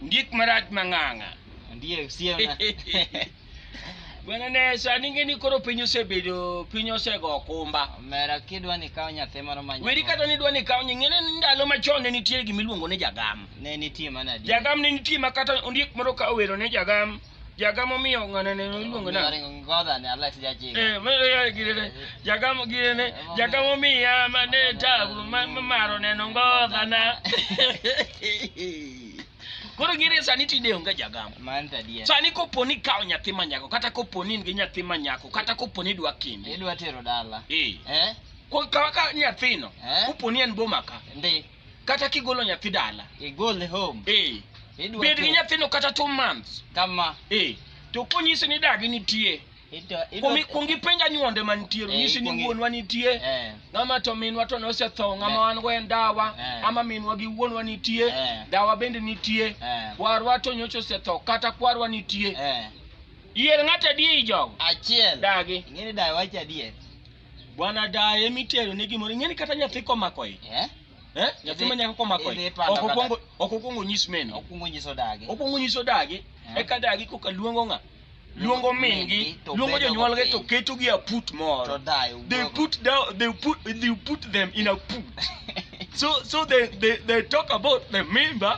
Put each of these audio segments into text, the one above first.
Ondiek marach mang'ang'a. Ondiek siemna. Bwana ne sani ngeni koro piny osebedo piny osego okumba. Mera kidwa ni kawo nyathi moro ma Weri kata ni dwa ni kawo nying'ene ni ndalo machon ne nitie gima iluongo ni jagam. Ne nitie mana di. Jagam ne nitie ma kata ondiek moro ka owero ne jagam. jagamo miyo ng'ane ne luongo na ngoda ne Allah sija ji eh me ya girene jagamo girene jagamo miya ma ne tabu ma maro ne ngoda na koro gire sani tinde onge jagamo sani koponi kawo nyathi manyako kata koponi in gi nyathi manyako kata koponi idwa kinde idwa tero dala eh, eh? kaka nyathino eh? koponi en boma ka kata kigolo nyathi dala igole home eh Idwa bed gi two. nyathino kata two months kama eh to konyisi ni dagi nitie idwa idwa Kuongi- kuongi penj anyuonde mantie Eh, nyisi ni kuongi- wuonwa nitie eh ng'ama to minwa to nosetho ng'ama Eh. wan go en dawa Eh. ama minwa gi wuonwa nitie Eh. dawa bende nitie eh kwarwa to nyocha osetho kata kwarwa nitie eh yier ng'ato adier jogo achiel dagi ing'eni dawa wacho adier Bwana daye mitero ne gimoro ing'eni kata nyathi komako ich. Eh? Eh? Nyathi ma nyako komako ich. Idhi to anakata. Okokwongo okokwongo nyis meno. Okwongo nyiso dagi. Okwongo nyiso dagi. Eh. Eka dagi koka luongo ng'a. Luongo mingi, to luongo bedo jonyuolge to mapiny. ketogi a put To moro. dayo. They wuogo. put down they put they put them in a put. so so they they they talk about the member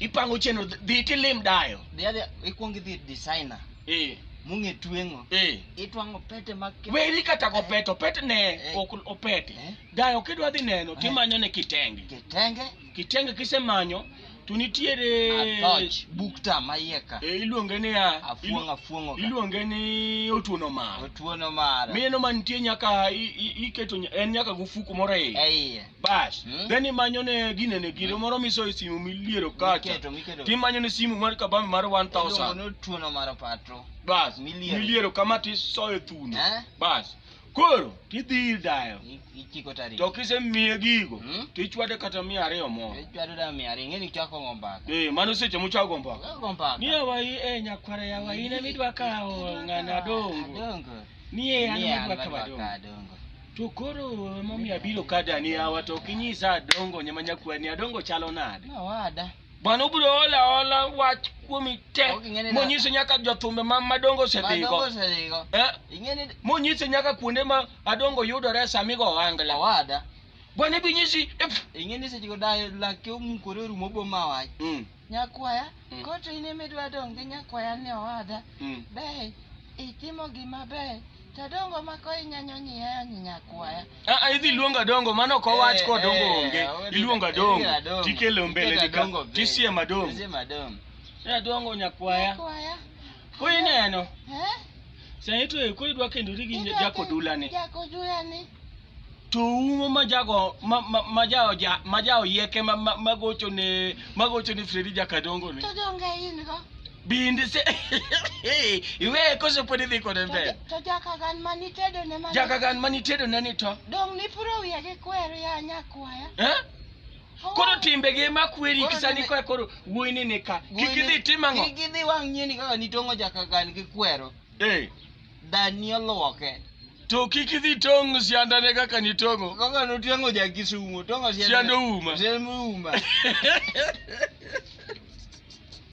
ipango chenro dhi tilim dayo dhi adhi ikwong idhi designer eh mung'e tweng'o eh itwang'o pete mag weri kata go pete opete ne eh. ok opete eh. dayo kidwa dhi neno eh. timanyo ne kitenge kitenge kitenge kisemanyo to nitiere bukta mayeka e, iluonge ni iluonge ni otuono mar otuono mar mino mantie nyaka iketo en nyaka gofuku moro e iye Bas, Hmm? then imanyo ne gine ne gino moro miso e simu miliero kacha. Miketo, miketo. Timanyo ne simu mar kabambe mar Iluongo 1000. ni otuono mar opatro. Bas, Miliero. miliero kama tisoyo thuno. Eh? Bas. Koro tidhi ir dayo. I- Ichiko tarik. To kisemiye gigo, Hmm? tichwade kata mia ariyo moro. Ichwado da mia ariyo, ing'eni chako go mbaka. Eh, mano seche muchako go mbaka. Chako go mbaka. Ni awai eh nyakwara ya wai ne midwa kawo ng'ana dongo. Adongo. Ni e an Ni an midwa madwa kawo ka dongo. adongo. To koro emomiyo abiro ka dani yawa to ok inyisa adongo nyama nyakwani adongo chalo nade? Nawada. Bwana ubiro hola hola wach kuomi te Ok ing'eni na- monyiso nyaka jothumbe ma madongo Madongo osedhigo. osedhigo. Eh? Ing'eni Monyiso nyaka kuonde ma adongo yudore sama igo ohangla. nawada. Bwana ibinyisi. Ing'eni seche go dayo lake omukore orumo boma wach. Mm. Nyakwaya, Mm. koro to in ema idwa dong' gi nyakwaya ni owada. Mm. Be itimo gima ber. To dongo ma ko inyanyo nyiyayo nyi nyakwaya. Ah, ah, idhi luongo adongo mano ok owach Eh, ko adongo eh, onge odi- iluongo odi adongo adongo. tikelo mbele Iketo adongo nika be. tisiem adongo Tisiem adongo. Ne adongo nyakwaya. Nyakwaya. Ko ineno. Eh? Sani to ko idwa kendori gi Idwa jako ke- dulani. Jako dulani. to umo majago majaoja majao yeke magocho ne magocho ne Fredi Jakadongo ne to donge in go bindi se iwe koso podi dhi kode mbele to jakagan mani tedo ne mani jakagan mani tedo ne ni to dong ni puro wiye gi kwer ya nyakwaya eh koro timbe gi makweri kisani kwa koro wuoyini ni ka kik idhi tim ang'o kik idhi wang' nyini kaka nitongo jakagan gi kwero Eh. Dani oluoke. To kik idhi tong' siandane kaka nitong'o. Kaka notong'o ja Kisumo, tong'o sianda. Sianda ouma. Sianda ouma.